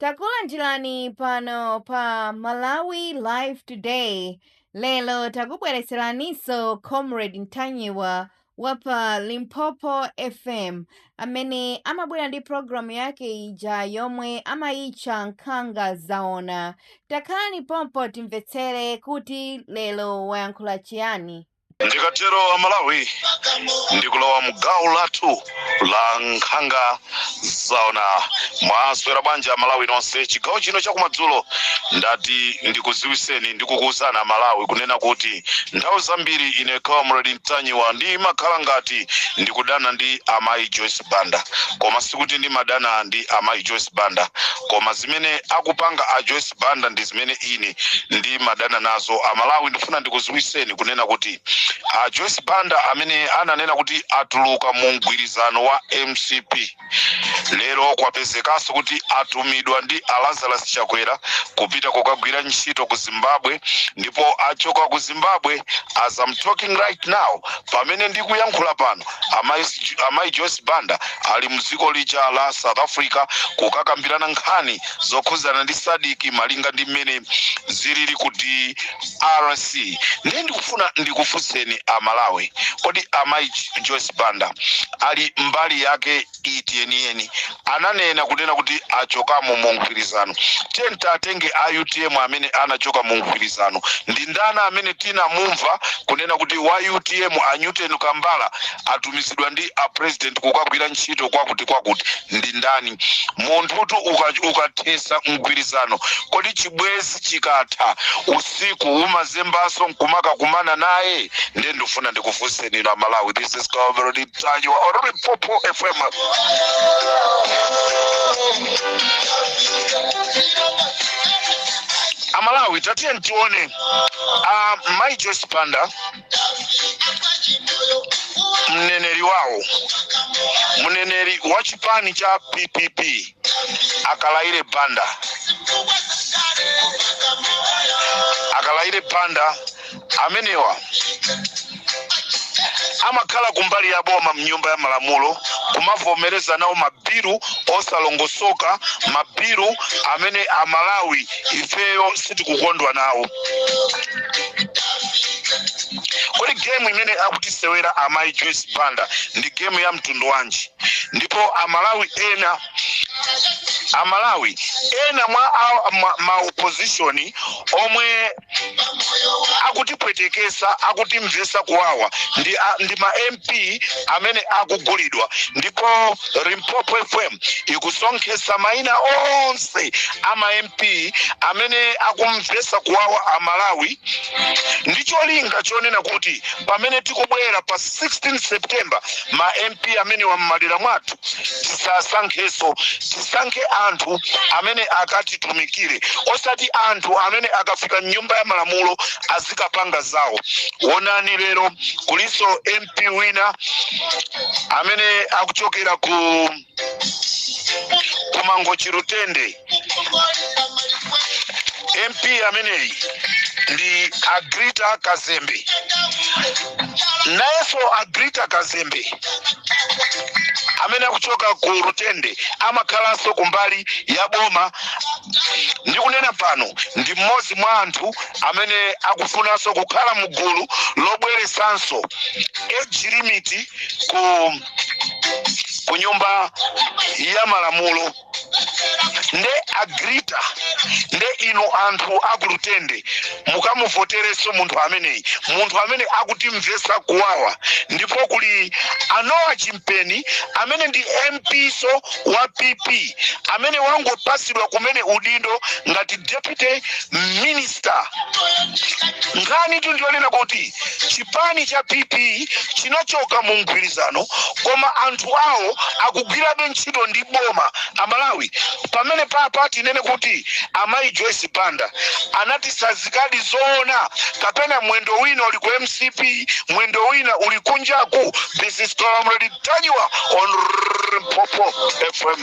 Takulandirani pano pa Malawi Live Today. Lero takubweretseraninso Comrade Ntanyiwa wa pa Limpopo FM amene amabwera ndi programu yake ija yomwe amayitcha Nkhanga Zaona. Takhalani pompo timvetsere kuti lero wayankhula chiyani. ndikatero amalawi ndikulowa mgawo lathu la nkhanga zaona mwaswera bwanji amalawi nonse chigawo chino chakumadzulo ndati ndikuziwiseni ndikukuwuzani amalawi kunena kuti nthawi zambiri ine comrade ntanyiwa ndimakhala ngati ndikudana ndi amayi joyce banda koma sikuti ndimadana ndi amayi joyce banda koma zimene akupanga a joyce Banda ndizimene ine ndimadana nazo amalawi ndifuna ndikuziwiseni kunena kuti a Joyce Banda amene ananena kuti atuluka mu mgwirizano wa mcp lero kwapezekaso kuti atumidwa ndi a Lazarus Chakwera kupita kukagwira ntchito ku Zimbabwe ndipo achoka ku Zimbabwe as I'm talking right now pamene ndikuyankhula pano amayi Joyce Banda ali mdziko lija la South Africa kukakambirana nkhani zokhudzana ndi sadiki malinga ndi mmene zilili ku drc ndiye ndikufuna ndikufunseni amalawi kodi amayi joyce banda ali mbali yake iti yeniyeni ananena kunena kuti achokamo mu mgwirizano tiye tatenge a utm amene anachoka mu mgwirizano ndi ndani amene tinamumva kunena kuti wa utm a newton kambala atumizidwa ndi a president kukagwira ntchito kwakuti kwakuti ndi ndani munthutu ukathesa mgwirizano kodi chibwezi chikatha usiku umazembaso nkumakakumana naye nde ndifuna ndikufunseni inu amalawi this is Comrade Ntanyiwa on Limpopo fm amalawi tatiyeni tione uh, mai joyce banda mneneri wawo mneneri wa chipani cha ppp akalaire banda akalaire banda amenewa amakhala kumbali ya boma mnyumba ya malamulo kumavomereza nawo mabilu osalongosoka mabilu amene amalawi ifeyo sitikukondwa nawo kodi gemu imene akutisewera amayi joyce banda ndi gemu ya mtundu wanji ndipo amalawi ena amalawi ena mwa a- ma- maopozishoni omwe akutipwetekesa akutimvesa kuwawa ndi, a- ndi ma MP T amene akugulidwa ndipo Limpopo FM ikusonkhetsa maina onse a ma MP amene akumvetsa kuwawa a Malawi ndi cholinga chonena kuti pamene tikubwera pa 16 September ma MP amenewa m'madera mwathu tisasankhenso tisankhe anthu amene akatitumikire osati anthu amene akafika m'nyumba ya malamulo azikapanga zawo onani lero kuliso mp wina amene akuchokera ku ku Mangochi Lutende mp ameneyi ndi agrita kazembe nayenso agrita kazembe amene akuchoka ku Lutende amakhalanso kumbali ya boma ndikunena pano ndi mmodzi mwa anthu amene akufunanso kukhala mu gulu lobweresanso age limit ku ku nyumba ya malamulo nde agrita nde inu anthu aku Lutende mukamuvotereso munthu ameneyi munthu amene akutimvesa kuwawa ndipo kuli a Noah Chimpeni amene ndi MP-so wa pp amene wangopasidwa kumene udindo ngati deputy minister nkhanitu ndi yonena kuti chipani cha pp chinachoka mu mgwirizano koma anthu awo akugwirabe ntchito ndi boma amalawi pamenepapa tinene kuti amayi joyce banda anatsanzikadi zoona kapena mwendo wina uli ku mcp mwendo wina uli kunjaku this is Comrade Ntanyiwa on Limpopo FM.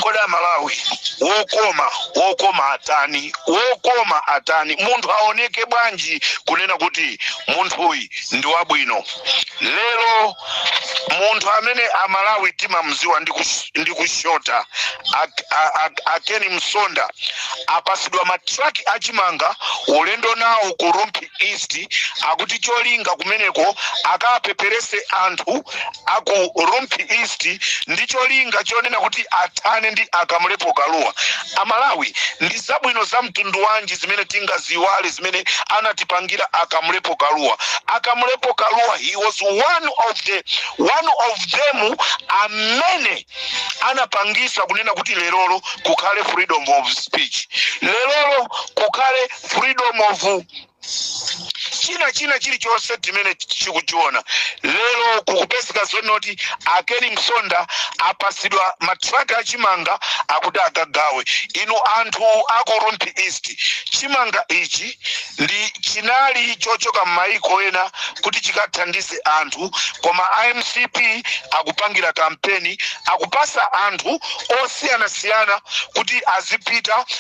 Kodi a Malawi wokoma wokoma atani wokoma atani munthu aoneke bwanji kunena kuti munthuyi ndi wabwino lero munthu amene amalawi timamziwa ndi kus- ndi kushota ak- a- a- a Ken Msonda apasidwa matraki achimanga ulendo nawo ku Rumphi East akuti cholinga kumeneko akapeperese anthu aku Rumphi East ndi cholinga chonena kuti athane ndi a Kamlepo Kalua A Malawi ndi zabwino za mtundu wanji zimene tingaziiwale zimene anatipangira a Kamlepo Kalua? A Kamlepo Kalua he was one of the one of them amene anapangisa kunena kuti lerolo kukhale freedom of speech, lerolo kukhale freedom of china chilichonse chimene tikuchiona lero kukupezeka zonoti akeni msonda apasidwa matraki achimanga akuti akagawe inu anthu aku rumphi east chimanga ichi ndi chinali chochoka m'mayiko ena kuti chikathandize anthu koma a mcp akupangira kampeni akupasa anthu osiyanasiyana kuti azipita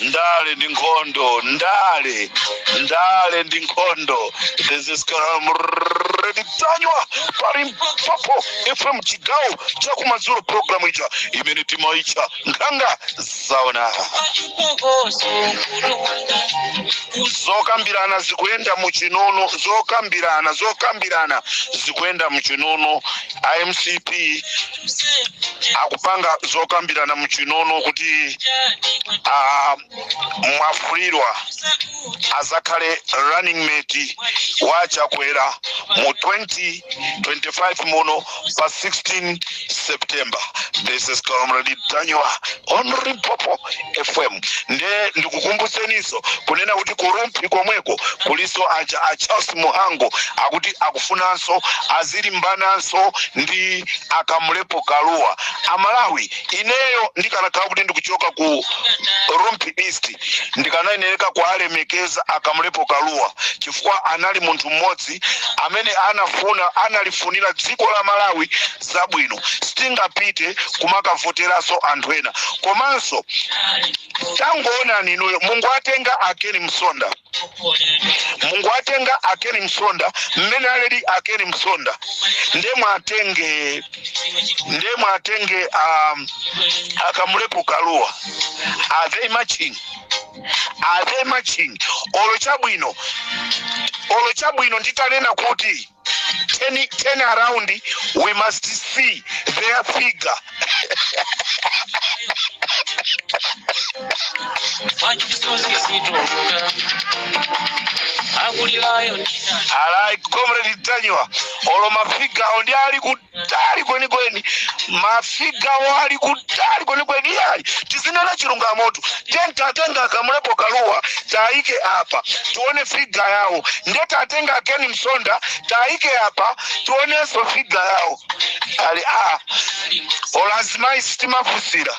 ndale ndi nkhondo ndale ndale ndi nkhondo this is comrade tanywa pa limpopo fm chigawo chakumadzulo programu ija imene timaitcha nkhanga zaona Pachipokoso mkulu wanga zokambirana zikuyenda muchinono zokambirana zokambirana zikuyenda muchinono a mcp kuseja akupanga zokambirana muchinono kuti jani ah, mwafulirwa sakuja azakhale running mate wa chakwera mu 2025 muno pa 16 september this is comrade tanywa on limpopo fm nde ndikukumbutseniso kunena kuti ku rumphi komweko kuliso aja a charles muhango akuti akufunanso azilimbananso ndi akamulepo kaluwa amalawi ineyo ndikanakhala kuti ndikuchoka ku rumphi east ndikanayenereka kualemekeza akamulepo kaluwa chifukwa anali munthu mmodzi amene anafuna analifunira dziko la malawi zabwino sitingapite kumakavoteranso anthu ena komanso tangoonani inuyo mungowatenga akeni msonda mungowatenga akeni msonda mmene aliri akeni msonda nde muwatenge nde muwatenge um, akamulepo kaluwa are they matching are they matching olo chabwino olo chabwino nditanena kuti turn, turn around we must see their figure alright comrade tanywa olo mafiga awo ndi ali kuti kutali kwenikweni mafigawo ali kutali kwenikweni iyayi tizinena chilungamotu tatengani akamulepo kaluwa taike apa tione figa yawo nde tatenga akeni msonda taike apa tionenso figa yawo ali a ona azimayi sitimafusira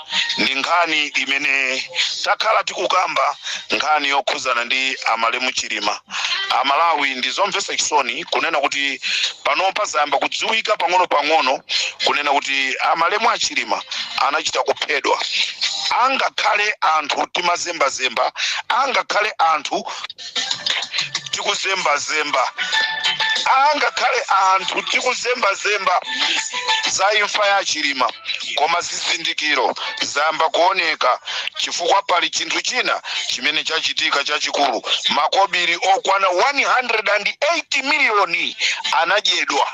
ndi nkhani imene takhala tikukamba nkhani yokhudzana ndi amalemu chilima amalawi ndi zomvetsa chisoni kunena kuti panopa zayamba kudziwika pang'ono-pang'ono kunena kuti amalemu a chilima anachita kuphedwa angakhale anthu timazembazemba angakhale anthu tikuzembazemba angakhale anthu tikuzembazemba za imfa ya chilima koma zizindikiro zayamba kuoneka chifukwa pali chinthu china chimene chachitika chachikulu makobiri okwana 180 miliyoni anadyedwa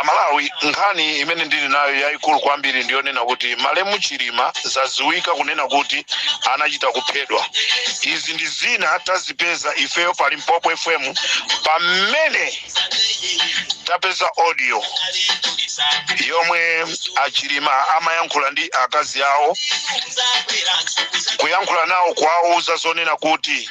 amalawi nkhani imene ndili nayo yayikulu kwambiri ndiyonena kuti malemu chilima zaziwika kunena kuti anachita kuphedwa izi ndi zina tazipeza ifeyo pa limpopo fm pamene tapeza audio yomwe achilima amayankhula ndi akazi awo kuyankhula nawo kuwawuza zonena kuti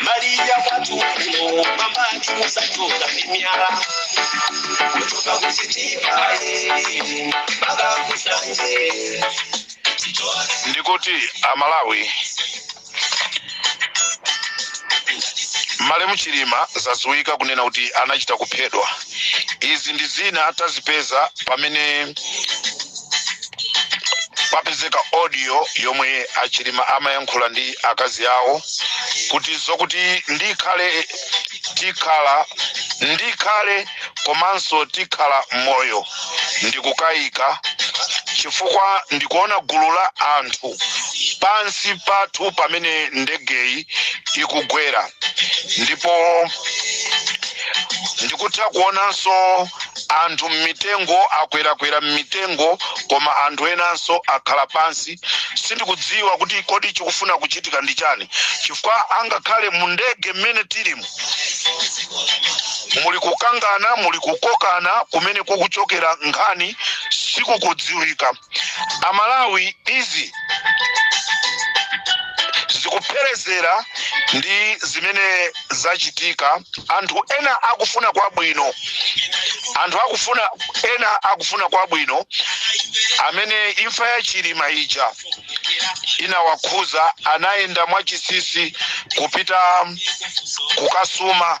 Maria watu wako mama akimusachoka mimiara kutoka kusitima eh, mpaka kusanje ndikuti amalawi malemu chilima zadziwika kunena kuti anachita kuphedwa izi ndi zina tazipeza pamene papezeka audio yomwe achilima amayankhula ndi akazi awo kuti zokuti ndikhale tikhala ndikhale komanso tikhala moyo ndikukayika chifukwa ndikuona gulu la anthu pansi pathu pamene ndegeyi ikugwera ndipo ndikutha kuonanso Anthu m'mitengo akwerakwera m'mitengo, koma anthu enanso akhala pansi. Sindikudziwa kuti kodi chikufuna kuchitika ndi chani chifukwa angakhale mu ndege mmene tilimo muli kukangana, muli kukokana kumene kukuchokera nkhani sikukudziwika. amalawi izi zikupherezera ndi zimene zachitika anthu ena akufuna kwabwino anthu akufuna ena akufuna kwabwino amene imfa ya chilima ija inawakhuza anayenda mwachisisi kupita kukasuma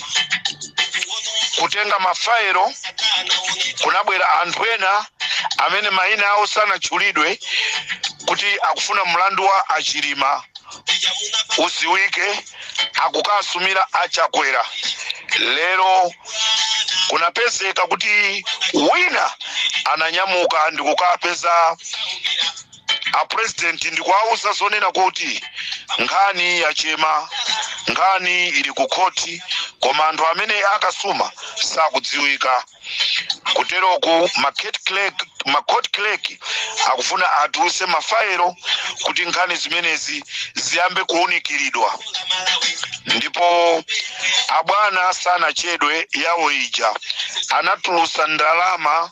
kutenga mafaelo kunabwera anthu ena amene mayina awo sanatchulidwe kuti akufuna mlandu wa achilima udziwike akukasumira achakwera lero kunapezeka kuti wina ananyamuka ndikukapeza a president ndikuwauza zonena kuti nkhani yachema nkhani ili ku khoti koma anthu amene akasuma sakudziwika kuteroku ma court clerk akufuna atuluse mafaelo kuti nkhani zimenezi ziyambe kuunikiridwa ndipo abwana sanachedwe yawo ija anatulusa ndalama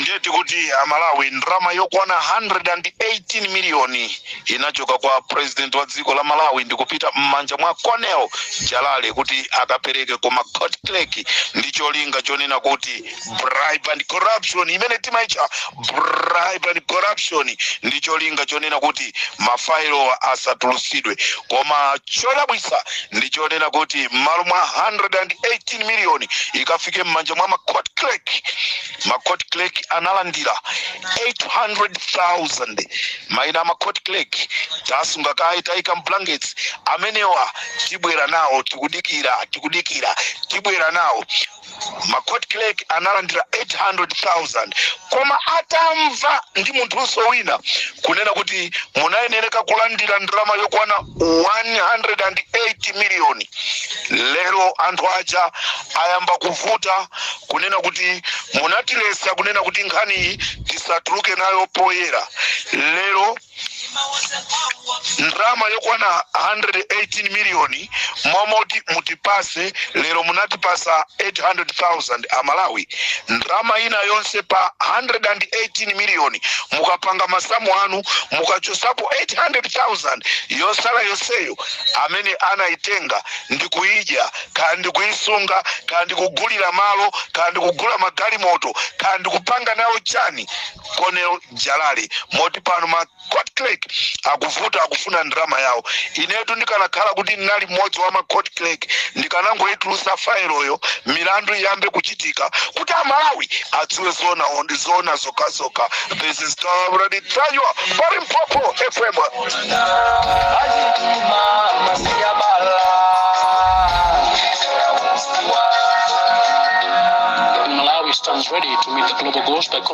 ndiye tikuti amalawi ndalama yokwana 118 miliyoni inachoka kwa president wa dziko la malawi ndikupita m'manja mwa Colonel jalali kuti akapereke kwa ma court clerk ndi cholinga chonena kuti bribe and corruption imene timaitcha bribe and corruption ndi cholinga chonena kuti mafailowa asatulutsidwe koma chodabwitsa ndi chonena kuti m'malo mwa 118 miliyoni ikafike m'manja mwa macourt clerk macourt clerk analandira 800,000 maina a macourt clerk tasunga kaye taika mblankets amenewa tibwera nawo tikudikira tikudikira tibwera nawo ma court clerk analandira 800,000 koma atamva ndi munthunso wina kunena kuti munayenereka kulandira ndalama yokwana 118 miliyoni lero anthu aja ayamba kuvuta kunena kuti munatilesa kunena kuti nkhaniyi tisatuluke nayo poyera lero ndalama yokwana 118 miliyoni m'malo moti mutipase lero munatipasa 800000 amalawi ndalama ina yonse pa 118 miliyoni mukapanga masamu anu mukachosapo 800000 yosala yonseyo amene anayitenga ndikuyidya kaya ndikuyisunga kaya ndikugulira malo kaya ndikugula magalimoto kaya ndikupanga nawo chani Colonel jalale moti pano ma court clerk akuvuta akufuna ndalama yawo inetu ndikanakhala kuti ndinali mmodzi wa ma court clerk ndikanangoyitulusa failoyo milandu iyambe kuchitika kuti amalawi adziwe zoona ndi zoona zokhazoka this is comrade ntanyiwa pa limpopo fm Malawi stands ready to meet the global goals by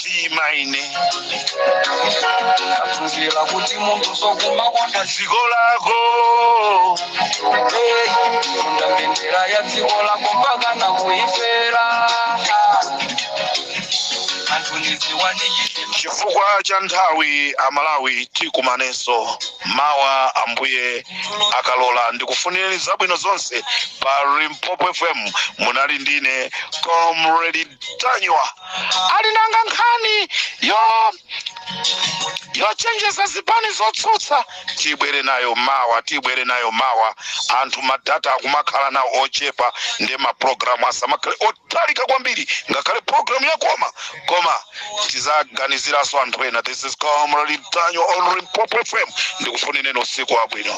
mtima ine ndaphunzira kuti munthu sokumakonda dziko lako Hey, kufunda mbendera ya dziko lako mpaka nakuifera anthu ndiziwa ndi chizima chifukwa cha nthawi amalawi tikumanenso mawa ambuye akalola ndikufunireni zabwino zonse pa limpopo fm munali ndine comrade ntanyiwa ali nanga nkhani yochenjeza zipani zotsutsa tibwere nayo mawa tibwere nayo mawa anthu madata akumakhala nawo ochepa nde mapulogalamu asamakhale otalika kwambiri ngakhale pulogalamu yakoma koma tizaganiziranso anthu ena this is comrade ntanyiwa on limpopo fm ndikufunireni usiku wabwino